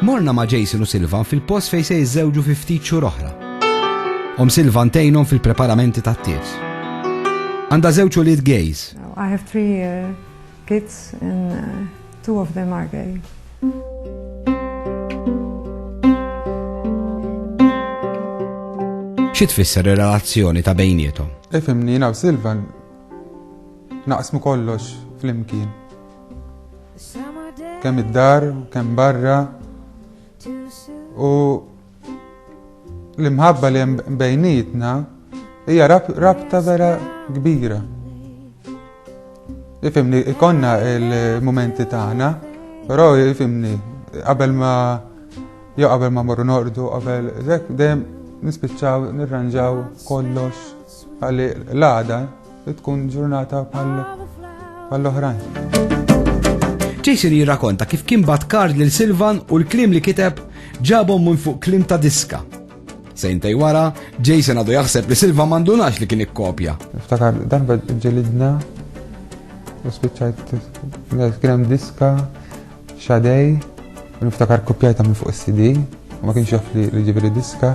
Morna ma' Jason u Silvan fil-post fej se jiżżewġu fi ftit xhur oħra. Om Silvan tejnhom fil-preparamenti tat-tiet. Għandha żewġ ulied gays. I have three uh, kids and uh, two of them are gay. Xi tfisser ir-relazzjoni ta' bejnietom? Ifimni u Silvan Naqsmu kollox flimkien. Kemm id-dar, kemm barra. U l-imħabba li hemm bejnietna hija rabta vera kbira. Ifimni, ikonna il-momenti tagħna, però ifimni, qabel ma jew qabel ma morru nordu, qabel dejjem nispiċċaw nirranġaw kollox Għalli l-għada tkun ġurnata bħall-oħrajn. Jason jirrakonta kif kien bat kard lil Silvan u l-klim li kiteb ġabhom minn fuq klim ta' diska. Sejntej wara, Jason għadu jaħseb li Silva mandunax li kien ikkopja. Ftakar, dan ġelidna, u spiċċajt, kien hemm diska, xadej, niftakar kopjajta minn fuq is-CD, ma kienx jaf li ġibri diska,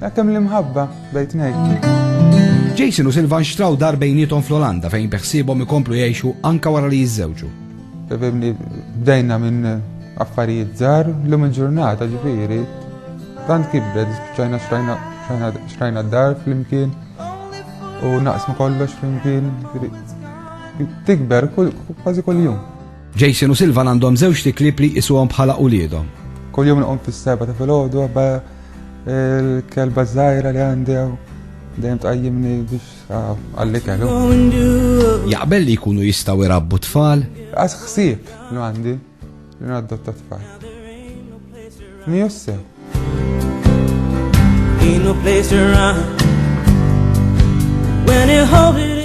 Hekk hemm l-imħabba bejn tnejn. Jason u Silvan xtraw dar bejniethom fl-Olanda fejn beħsiebhom ikomplu jgħixu anke wara li jiżżewġu. Bdejna minn affarijiet żgħar l-lum il-ġurnata ġifieri. Tant kibret, ċajna xtrajna d-dar flimkien u naqsmu kollox flimkien. Tikber kważi kuljum. Jason u Silvan għandhom żewġ tiklib li jisuhom bħala uliedhom. Kuljum nqum fis-seba ta' filgħodu Il-kelba żgħira li għandi hawn dejjem tqajjimni biex ah, għalli kellu. Jaqbel li jkunu jistgħu jrabbu tfal? Għax ħsieb li għandi li nadotta tfal. Mi jossew. Ain't no place to run when it holds